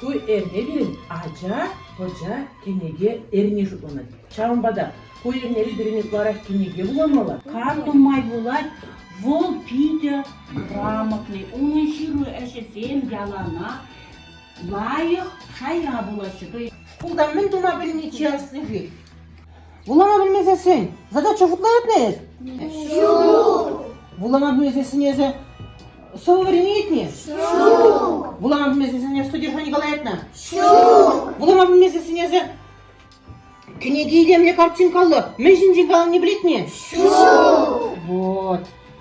Ку эрнерен ача пӑча кӗнеке эрни шутланать. Ҫавӑнпа та ку эрнери пирӗн ытларах кӗнеке вуламалла. Карпӑн май пулать, вӑл питӗ грамотный. Унӑн ҫыру ӗҫӗсем ялана лайӑх шая пулаҫҫӗ. Шкулта мӗн тума пӗлни чи асли-ши? Вулама пӗлмесессӗн задача шутланатна эс? Ҫук. Вулама пӗлмесессӗн эсӗ слововарение илтни? Ҫук. Вулама пӗлмесессӗн эсӗ содержани калаятна? Ҫук. Вулама пӗлмесессӗн эсӗ кӗнеке илемлӗ картинкаллӑ мӗн ҫинчен каланине пӗлетни? Ҫук. Вот.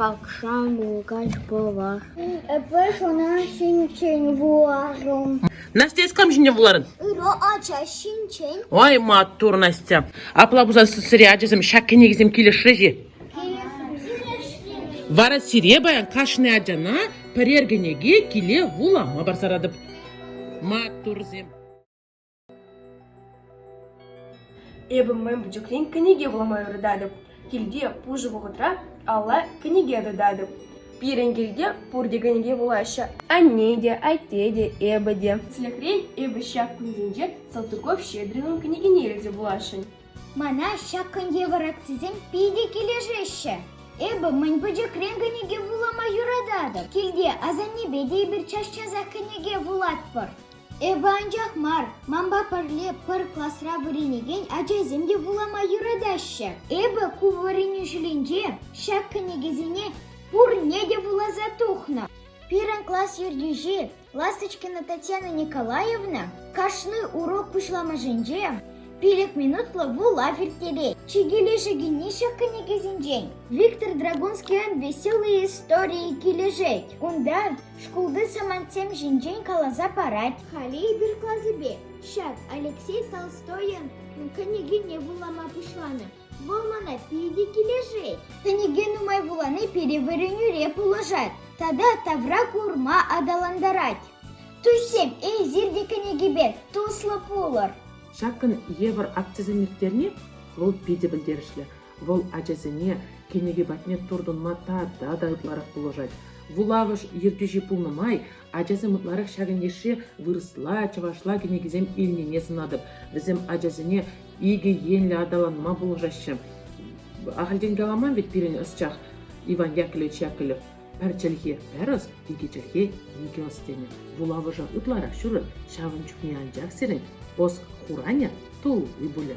Пакша мулкач пулвас. Эпӗ шуна ҫинчен вуларӑм. Настя, эс кам ҫинчен вуларӑн? Ырӑ ача ҫинчен. Ай, маттур, Настя. Апла пулсан сире, ачасем, ҫак кӗнекесем килӗшрӗҫ-и? Вара сире паян кашни ачана пӗрер кӗнеке киле вулама парса паратӑп. Маттурсем! Эпӗ мӗн пӗчӗкрен кӗнеке вулама юрататӑп. Килте пушӑ вӑхӑтра алла кӗнеке тытатӑп. Пирӗн килте пурте кӗнеке вулаҫҫӗ. Анне те, атте те, эпӗ те. Тӗслӗхрен, эпӗ ҫак кунсенче Салтыков Щедринӑн кӗнекине илсе вуласшӑн. Мана ҫак кун евӗр акцисем питӗ килӗшеҫҫӗ. Эпӗ мӗн пӗчӗкрен кӗнеке вулама юрататӑп. Килте асаннепе те эпир час-часах кӗнеке вулатпӑр. Эпӗ анчах мар, манпа пӗрле пӗр класра вӗренекен ачасем те вулама юратаҫҫӗ. Эпӗ ку вӗренӳ ҫулӗнче ҫак кӗнекесене пурне те вуласа тухнӑ. Пирӗн класс ертӳҫи Ласточкина Татьяна Николаевна кашни урок пуҫламӑшӗнче пилӗк минутлӑ вулав ирттерет. Чи килӗшекенни ҫак кӗнекесенчен Виктор Драгунский веселые истории килӗшет. Унта Шкулти самантсем ҫинчен каласа парать. Халӗ эпир класӗпе ҫак Алексей Толстойӑн кӗнекине вулама пуҫланӑ. Вӑл мана питӗ килӗшет. Кӗнеке нумай вулани пире вӗренӳре пулӑшать тата тавра курма аталантарать. Туссем, эсир те кӗнекепе туслӑ пулӑр. Ҫакӑн евӗр акцисем ирттерни вӑл питӗ пӗлтерӗшлӗ. Вӑл ачасене кӗнеке патне туртӑнма тата та ытларах пулӑшать. Вулавӑш ертӳҫи пулнӑ май ачасем ытларах ҫакӑн йышши вырӑсла, чӑвашла кӗнекесем илнине сӑнатӑп. Вӗсем ачасене икӗ енлӗ аталанма пулӑшаҫҫӗ. Ахальтен каламан вӗт пирӗн ӑсчах Иван Яковлевич Яковлев. Пӗр чӗлхе ӗрӗс, икӗ чӗлхе икӗ ӑс тенӗ. Вулавӑша ытларах ҫурӑн, ҫавӑн чухне анчах сирӗн ӑс хуранӗ тулли пулӗ.